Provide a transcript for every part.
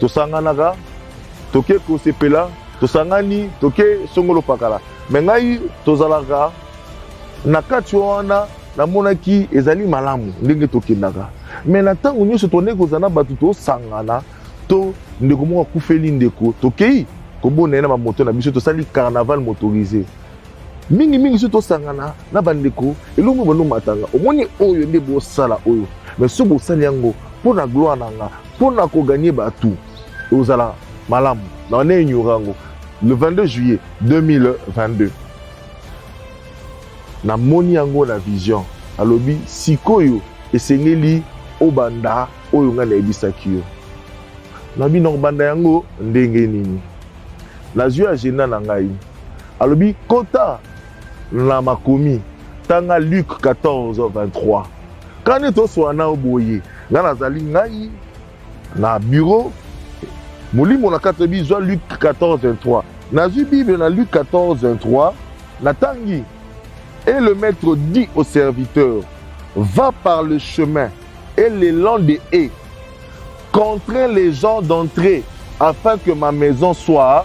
Tosanganaka, toke kosepela, tosangani, toke songolo pakala. Me ngai tozalaka na kati wana namonaki ezali malamu ndenge tokendaka me na ntango nyonso tondeki kozala na bato tosangana to ndeko moko akufeli ndeko tokei kobona ye na bamoto na biso tosali carnaval motorise mingimingi soki tosangana na bandeko elongo banomatanga omoni oyo nde bosala oyo me soki bosali yango mpo na gloire na nga Pour na ko gagner bato ozala malamu na wana ignora yango le 22 juillet 2022 namoni yango na vision alobi sikoyo esengeli obanda oyo ngai nayebisaki yo na bino kobanda yango ndenge nini nazwi agenda na ngai alobi kota na makomi tanga luke 14 23 Kani toswa na yo boye, ngai nazali ngai na biro molimo na kati oyebi zwa Luc 14:23 nazwi Bible na Luc 14:23 natangi et le maître dit au serviteur va par le chemin et les lents des haies contraint les gens d'entrer afin que ma maison soit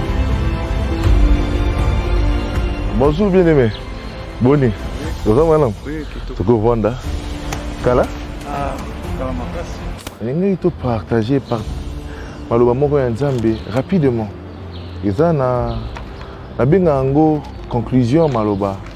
Bonjour bien aimé. Boni. Oza mwana? Oui, kitoko. Toko vanda. Kala? Ah, kala makasi. Ndenge to partager par maloba moko ya Nzambe rapidement. Eza na na benga yango conclusion maloba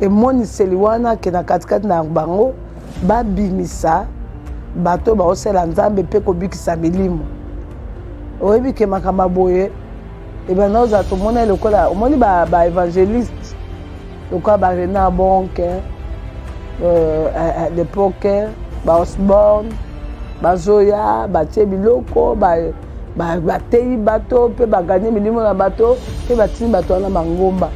Emoniseli wana ake na katikati na bango, babimisa bato oyo baosala Nzambe mpe kobikisa milimo. Oyebi ke makambo boye ebanda ozala tomona lokola omoni baevangeliste ba lokola ba renard bonke euh, à, à l'époque ba osborne bazoya batie biloko bateyi ba, ba bato mpe baganye milimo na bato mpe batindi bato wana mangomba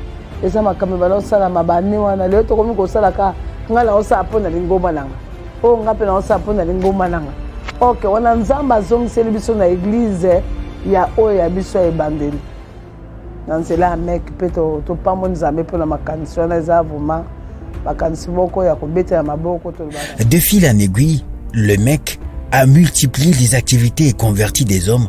eza makambo ebala osala mabane wana lelo tokomi kosala ka ngai naosala mpo na lingomba na nga oyo oh, ngai mpe naosala mpo na lingomba na nga ok wana nzambe azongiseli biso na eglize ya oyo ya biso ya ebandeli na nzela ya meke mpe topamboli nzambe mpo na makanisi wana eza vraimen makanisi moko ya kobetela maboko tolobaka de fil en aiguille le mec a multiplié les activités et converti des hommes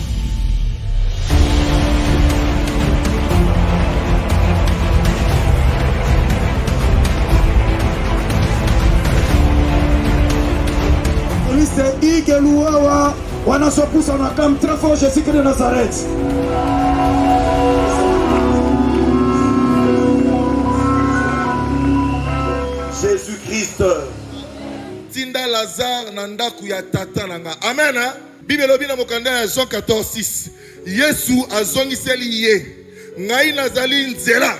Luawa wanasopusa na kam très fort Jésus de Nazareth. Jésus-Christ. Tinda Lazare na ndaku ya tata na nga. Amen. Hein? Biblia elobi na mokanda ya Jean 14:6 Yesu azongiseli ye, ngai nazali nzela,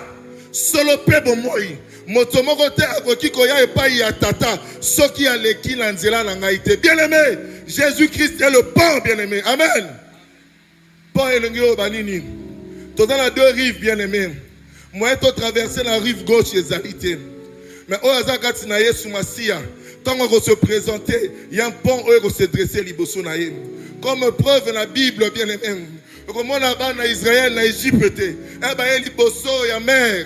solo mpe bomoi. Moto moko te akoki koya epai ya Tata soki aleki na nzela na ngai te. Bien-aime, Jésus-Christ est le pont, bien-aime. Amen. Pont elongi oyo ba nini? Toza na deux rives bien aimé. Moyen to traverser na rive gauche ezali te. Mais oyo aza kati na Yesu Masiya, tango ako se présenter, il y a un pont oyo ko se dresser liboso na ye. Comme preuve na Bible bien aimé. Okomona bana Israël na Egypte, eh ba ye liboso ya mer.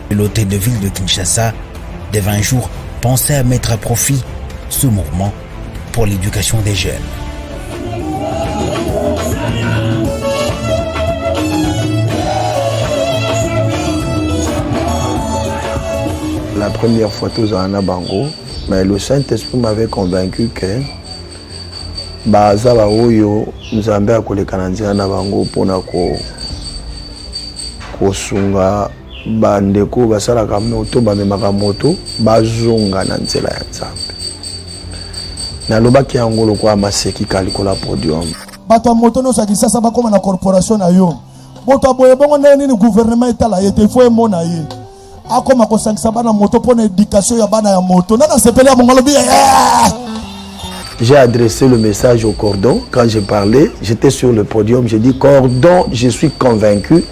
L'hôtel de ville de Kinshasa dès 20 jours pensait à mettre à profit ce mouvement pour l'éducation des jeunes. La première fois tous en Abango, mais le Saint-Esprit m'avait convaincu que baza baoyo nzambe akoleka na nzela na bango mpona kosunga Ba ndeko oyo basalaka moto bamemaka moto bazonga na nzela ya Nzambe. Nalobaki yango lokola maseki ka likolo ya podium. Bato ya moto nyonso ya Kisasa bakoma na corporation na yo. Moto aboye bongo ndenge nini gouvernement etala ye te, faut emona ye. Akoma kosangisa bana moto mpo na education ya bana ya moto. Nani asepeli ya mongolobi? Yeah! J'ai adressé le message au cordon. Quand j'ai parlé, j'étais sur le podium. J'ai dit, cordon, je suis convaincu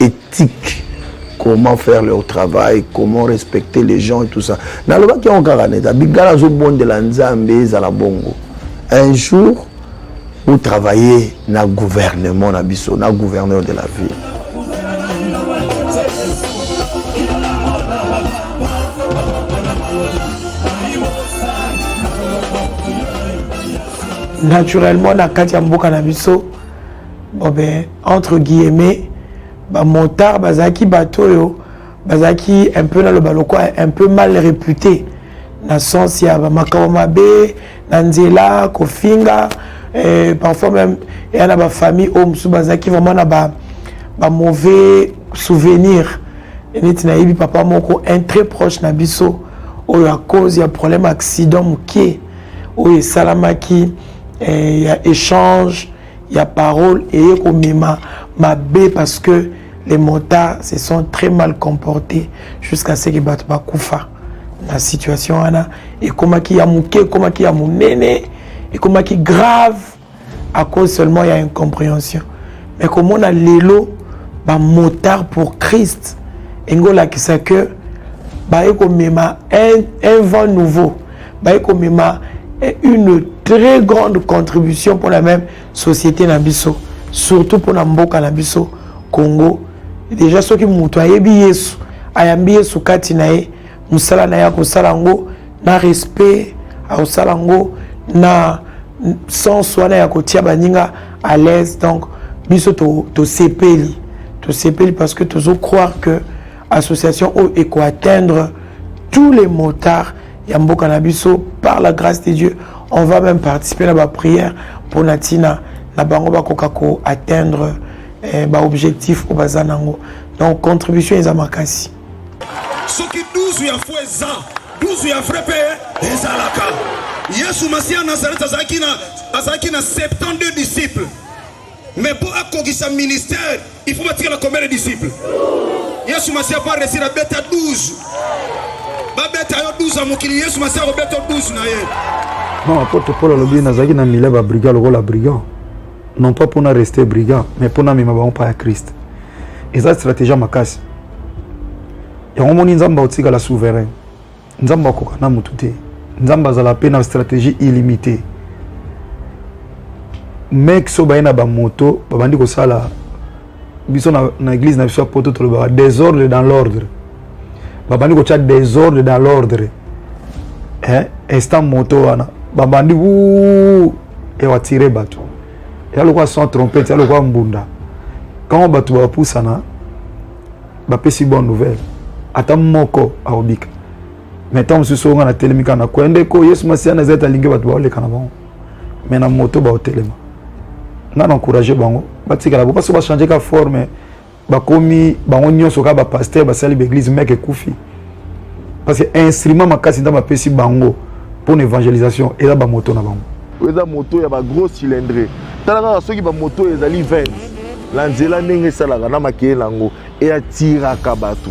Ethique comment faire leur travail comment respecter les gens et tout ça nalobaki yango kaka neta bigala azobondela nzambe ezala bongo un jour botravaille na gouvernement na biso na gouverneur de la ville naturellement na kati ya mboka na biso Bon ben, entre guillemets, ba motards bazalaki bato oyo bazalaki un peu naloba lokola un peu mal réputé na sens ya bamakambo mabe na nzela kofinga eh, parfois même eya na bafamille oyo mosusu bazalaki vraiment na ba, ba mauvais souvenir neti nayebi papa moko un très proche na biso oyo à cause ya problème accident moke oyo esalamaki eh, ya échange ya parole eye komema mabe parce que les motards se sont très mal comportés jusqu'à ce que bato bakufa na situation wana ekomaki ya moke ekomaki ya monene ekomaki grave à cause seulement ya incompréhension mais komona lelo bamotard pour christ engolakisa que baye komema un, un vent nouveau baye komema eh, une très grande contribution pour la même société na biso surtout pour na mboka na biso congo deja soki moto ayebi yesu ayambi yesu kati na ye mosala na ye akosala yango na respect akosala yango na sens wana ya kotia baninga à l'aise donc biso tosepeli to tosepeli parce que tozo croire que association oyo eko atteindre tous les motards ya mboka na biso par la grâce de dieu on va même participer na baprière mpo na ntina na bango bakoka ko atteindre eh, baobjectif oyo baza nango donc contribution eza makasi soki 12 ya fo eza 12 ya vrai mpe ezalaka yesu masiya nazarete azalaki na 72 disciples Mais pour akokisa ministère, il faut batikala combien de disciples? Yesu Masiya po aresir abeta 12. Babeta yo 12 ya mokili, Yesu Masiya akobeta 12 na ye. Non, apôtre Paul alobi nazalaki na milia ba brigand lokola brigand. Non pas mpona rester brigand, mais mpona mema bango pa ya Christ. Eza stratégie makasi. Yango moni Nzambe akotikala souverain. nzambe akoka na motu te nzambe azala mpe na stratégie illimité mec so baye na bamoto babandi kosala biso na, na église na biso ya poto tolobaka désordre dans l'ordre babandi kotya désordre dans l'ordre eh, instant moto wana babandi u ewatire bato eya lokola sans trompete eya lokola mbunda ntango bato bapusana bapesi bonne nouvelle ata moko aobika mais ntango mosusu onga natelemi kaka nakwea ndeko yesu masiya na ezali alingi bato baoleka na bango mais na moto baotelema nga na encourage bango batikala bo baso bachange ka forme bakomi bango nyonso kaka bapaster basali baeglise meke ekufi parce que instrument makasi nzambe apesi bango mpo na évangélisation eza bamoto na bango oyo eza moto ya bagros cylindre tala kaka soki bamoto oyo ezali 20 na nzela ndenge esalaka na makeye na yango eatiraka bato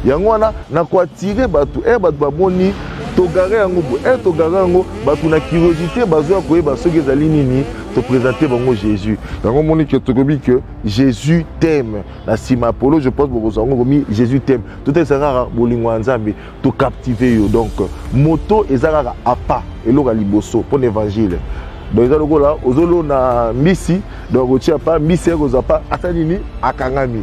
yango wana na koatire bato e bato bamoni togare yango bo e togare yango bato na curiosité bazoya koyeba soki ezali nini topresente bango jésus yango omoni ke tokobi ke jésus teme na nsima ya polo je pense bokozwa yango komi jésus teme totalisa kaka bolingo ya nzambe tocaptive yo donc moto eza kaka apa eloko ya liboso mpo na évangile donc eza lokola ozolona mbisi donc otia pa mbisi ekozwa pa ata nini akangami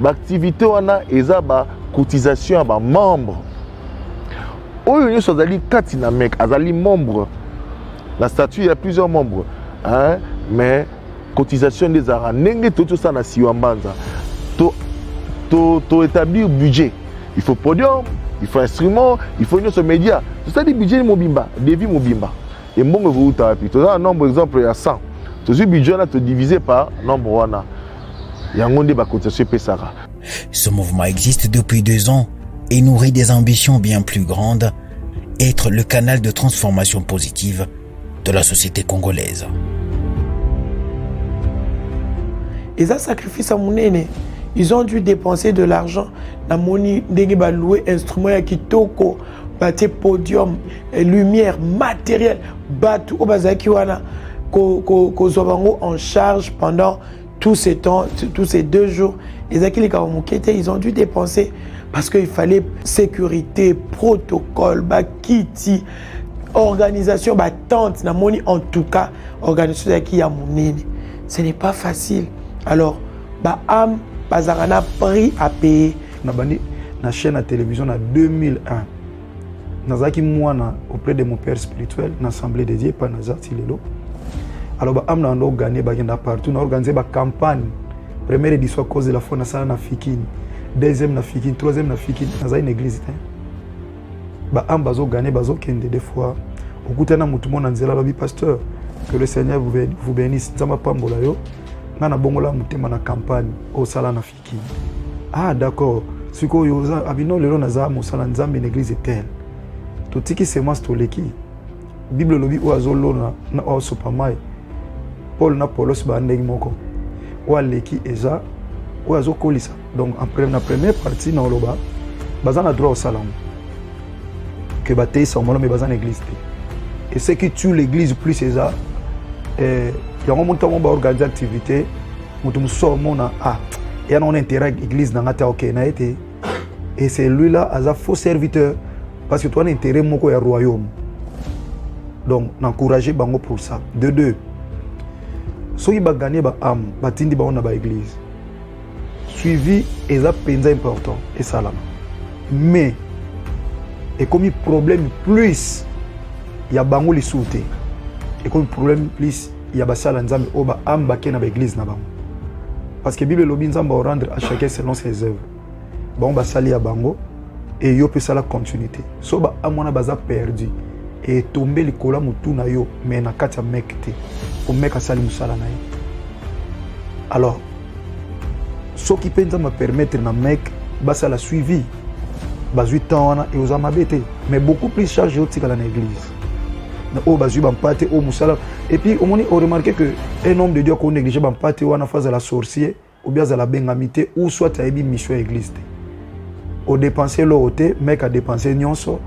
baaktivité wana eza bacotisation ya bamembre oyo nyonso azali kati na mec azali membre na statut ya plusieurs membres hein? mais cotisation nde ezalaka ndenge toyei tosala na siwa mbanza to, to, to établir budget il faut podium il faut instrument il faut nyonso média tosali budget mobimba devis mobimba Et mbongo ekouta wapi toza na nombre exemple ya 100 tozwi budget wana todivise par nombre wana yango nde bacotisation epesaka Ce mouvement existe depuis deux ans et nourrit des ambitions bien plus grandes, être le canal de transformation positive de la société congolaise. Ils ont sacrifice à Mounene. Ils ont dû dépenser de l'argent. Namoni ndenge ba louer instrument ya kitoko batie podium eh, lumière matériel bato oyo bazalaki wana kozwa bango en charge pendant tous ces temps tous ces deux jours ezalaki likambo moke te ils ont dû dépenser parce qu'il fallait sécurité protocole bakiti organisation batente namoni en tout cas organisation ezalaki ya monene ce n'est pas facile alors baame bazalaka na prix à payer nabandi na chaîne ya télévision na 2001 nazalaki mwana auprès de mon père spirituel na assemblée de dieu epai naza ti lelo alors baame na banda oganie bakenda partout na organise bacampagne première édition à cause de la foi nasala na fikini deuxième na fikini troisième na fikini nazali na église te baame bazoganie bazokende des fois okutani na motu mo na nzela alobi pasteur que le seigneur vous bénisse nzambe apambola yo ngai nabongola motema na campagne osala na ah d'accord sikoyo oza abino lelo naza mosala nzambe na eglise etel totiki semence toleki bible elobi oyo azolona na oyo asopa mai paul na polos baa ndenge moko oyo aleki eza oyo azokolisa donc na première partie na oloba baza na droit osala yango ke bateyisa yango me baza na église te et ce qui tue l'église plus eza eh, yango montango baorganize activité moto mosusu akomona ah ya na on intérêt église na ngai te ok na ye te et c'est lui là aza faux serviteur parce que towana intérêt moko ya royaume donc n'encourage bango pour ça de deux soki baganie baame batindi bango na baeglise suivi eza mpenza important esalama mais ekomi problème plus ya bango lisusu te ekomi problème plus ya basala nzambe oyo ba ame bake na baeglize na bango parce que bible elobi nzambe orendre à chacun selon ses œuvres bango basali ya bango e yo mpe esala continuité so ba ame wana baza perdu etombe likolo ya motu na yo me na kati ya meke te po meke asali mosala na ye alors soki mpe nzambe apermettre na meke basala suivi bazwi temps wana eoza mabe te mais beaucoup plus charge otikala na église na oyo bazwi bampate oyo mosala epuis omoni oremarke que un homme de dieu ako néglige bampate wana fo azala sorcier obia azala abengami te ou soit ayebi mission ya église te odepense eloko te meke adepense nyonso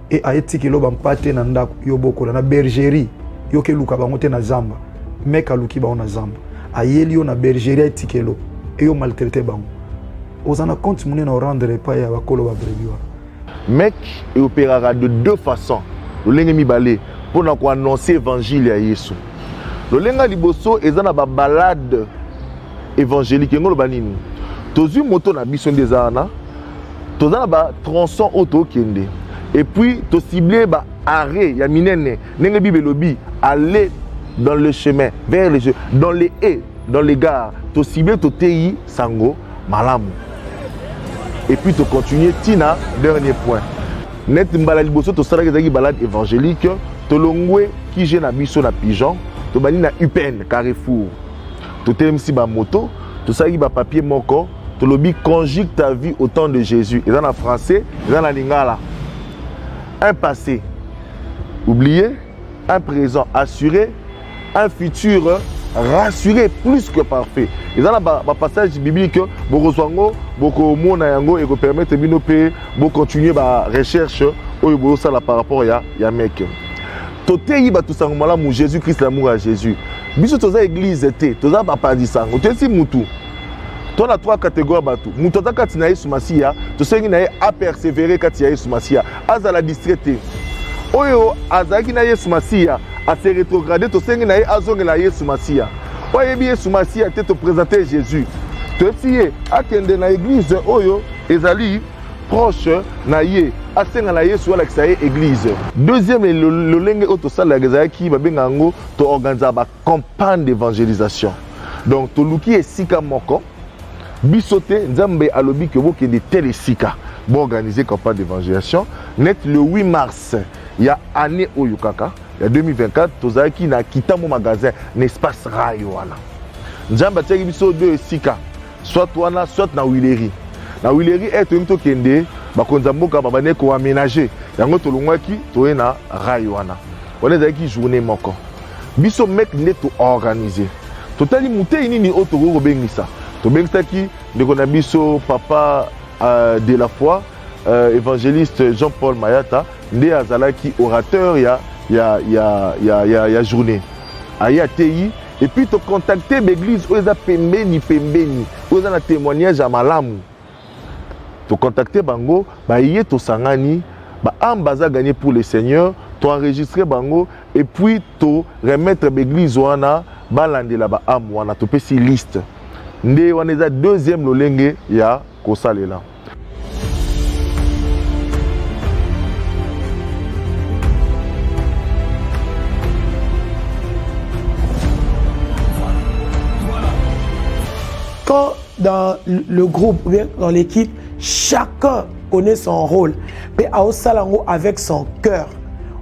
e aye tikelo bampate na ndako yo bokola na bergerie yo keluka bango te na zamba meke aluki bango na zamba ayeli yo na bergerie aye tikelo eyo maltraite bango oza na compte monene orendre epai ya bakolo babrebi wana Mec e operaka de deux façons, lolenge mibale mpo na koannonce evangile ya Yesu. Lolenge ya liboso eza na babalade evangelique, yango loba nini? Tozwi moto na biso nde eza wana, toza na batronçon oyo tokende, epuis tosible ba arret ya minene ndenge bible elobi aller dans le chemin vers le dans le e dans le gare tosible toteyi Sango malamu. Et puis to continuer tina dernier point. Net mbala liboso tosalaki ezalaki balade évangélique tolongwe kije na biso na pigeon tobandi na upn carrefour totelemisi bamoto tosalaki bapapier moko tolobi conjugue ta vie au temps de jésus eza na français eza na lingala un passé oublié un présent assuré un futur rassuré plus que parfait eza na bapassage biblique bokozwa yango bokomona yango ekopermettre bino mpe bocontinue barecherche oyo bozosala par rapport ya, ya meke toteyi bato sango malamu jésus christ lamour ya jésus biso toza église te toza bapanzi sango toyesi mutu to na trois catégorie ya bato moto aza kati na yesu masiya tosengi na ye apersévere kati ya yesu masiya Azala distrait te. Oyo azalaki na Yesu Masiya ase retrograde, tosengi na ye azongela Yesu Masiya. Oyo ayebi Yesu Masiya te, topresente Jésus. Toyebisi ye akende na eglise oyo ezali proche na ye asenga na yesu alakisa ye eglise deuxième lolenge oyo tosalelaka ezalaki babenga yango toorganiza campagne d'évangélisation donc toluki esika moko biso te nzambe alobi ke bokende tel esika boorganize campagne d'évangélisation net le 8 mars ya année oyo kaka ya 2024 tozalaki na kitambo magasin na espace rai wana nzambe atiaki biso de esika soit wana soit na wileri na wileri e eh, toyemi tokende bakonzi ya mboka babandaki koamenage yango tolongwaki toye na rai wana wana ezalaki journée moko Biso mec nde to organiser. Totali moteyi nini oyo tokoki kobengisa. Tobengisaki ndeko na biso papa euh, de la foi euh, evangeliste Jean-Paul Mayata nde azalaki orateur ya ya ya ya ya, ya journée. Aye ateyi et puis to contacter b'eglise oyo eza pembeni pembeni oyo eza na témoignage ya malamu. To contacter bango, baye tosangani, ba âmes baza gagner pour le Seigneur, to enregistrer bango et puis to remettre ba église wana balandela ba âmes wana topesi liste. Nde wana eza deuxième lolenge ya kosalela. Quand dans le groupe ou bien dans l'équipe chacun connaît son rôle mpe aosala yango avec son cœur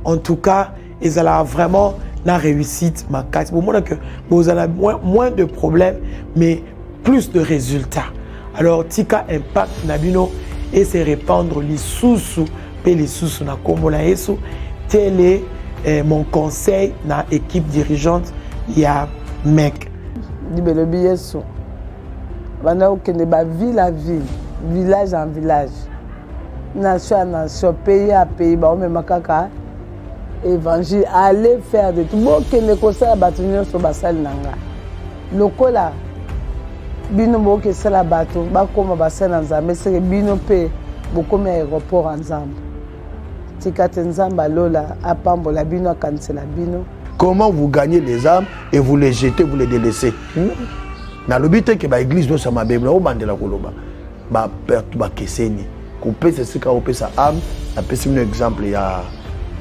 en tout cas ezalaka vraiment na réussite makasi bomona que bozala moins, moins de problème mais plus de résultats alors tika impact na bino et se répandre lisusu mpe lisusu na nkombo na yesu tele eh, mon conseil na équipe dirigeante ya mec Bible elobi Yesu banda kokende ba ville à ville, village en village, nation à nation, pays à pays, baomema kaka évangile aller faire de tout bokende kosala bato nyonso basali na nga lokola bino bokoki esala bato bakóma basali na nzambe seke bino mpe bokomi aéroport ya nzambe tika te nzambe alola apambola bino akanisela bino comment vous gagnez les âmes et vous les jetez vous les délaissez hmm? nalobi te ke baeglise nyonso ya mabe naobandela koloba baperte bakeseni kopesa esika opesa ame napesi bino exemple ya,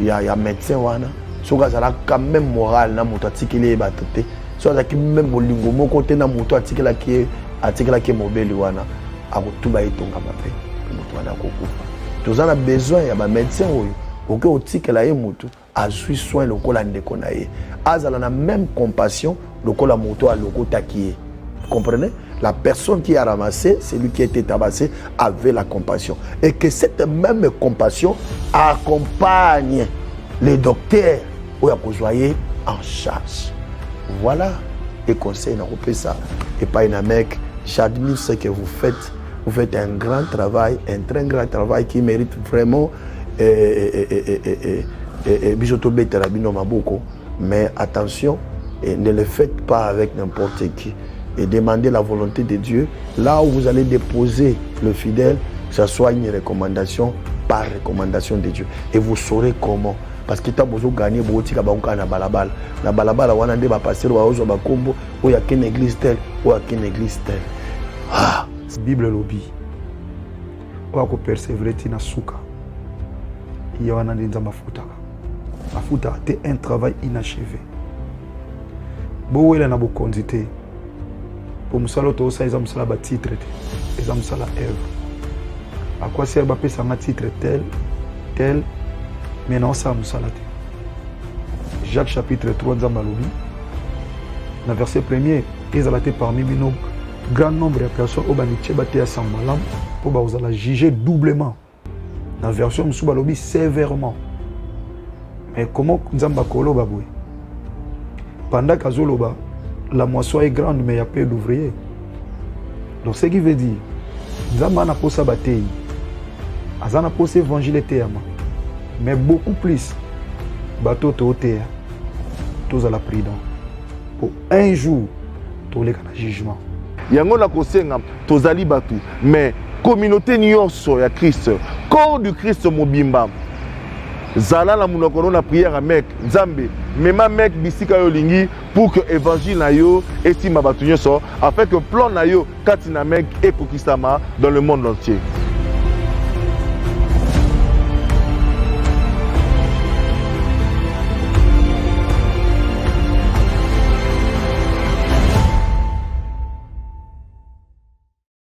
ya, ya médecin wana soki azalaka meme moral na moto atikeli ye bato te soki azalaki meme bolingo moko te na moto atikelaki ye atikelaki ye mobeli wana akotuba ye tonga mabe moto wana akokufa toza na besoin ya bamédecin oyo okoki otikela ye motu azwi soin lokola ndeko na ye azala na même compassion lokola moto alokotaki ye comprenez la personne qui a ramassé celui qui était tabassé avait la compassion et que cette même compassion accompagne le docteur oyo akozwa ye en charge voilà le conseil nakopesa epai na mec j'admire ce que vous faites vous faites un grand travail un très grand travail qui mérite vraiment e, biso tobetela bino maboko mais attention et ne le faites pas avec n'importe qui et demandez la volonté de Dieu là où vous allez déposer le fidèle que ça soit une recommandation par recommandation de Dieu et vous saurez comment parce que ntango bozoganye bokotika bango kaka na balabala na balabala wana nde bapastere baozwa bakombo oyo akende église tel oyo akende église tel ah. bible elobi oyo akopersevere ti na suka ye wana nde nzambe afutaka afutaka te un travail inachevé bowela na bokonzi te mpo mosala oyo toosala eza mosala batitre te eza mosala œuvre akwasi yaka bapesa nga titre tel tel mais naosala mosala te jacques chapitre 3 nzambe alobi na verset premier ezala te parmi bino Grand nombre ya personnes oyo bamitie bateya sango malamu mpo bakozala juge doublement na version mosusu balobi sévèrement mais comment nzambe akoloba boye pendant qu'azoloba la moisson est grande mais ya peu d'ouvrier donc ce qui veut dire nzambe ana mposa bateyi aza na mposa évangile eteyama mais beaucoup plus bato toteya tozala prudent un jour toleka na jugement yango nakosenga tozali bato mais communauté nyonso ya christ corps du christ mobimba zala na monoko no na prière ya mek nzambe mema mek bisika yo olingi pour que évangile na yo esimba bato nyonso afin que plan na yo kati na Mecque ekokisama dans le monde entier.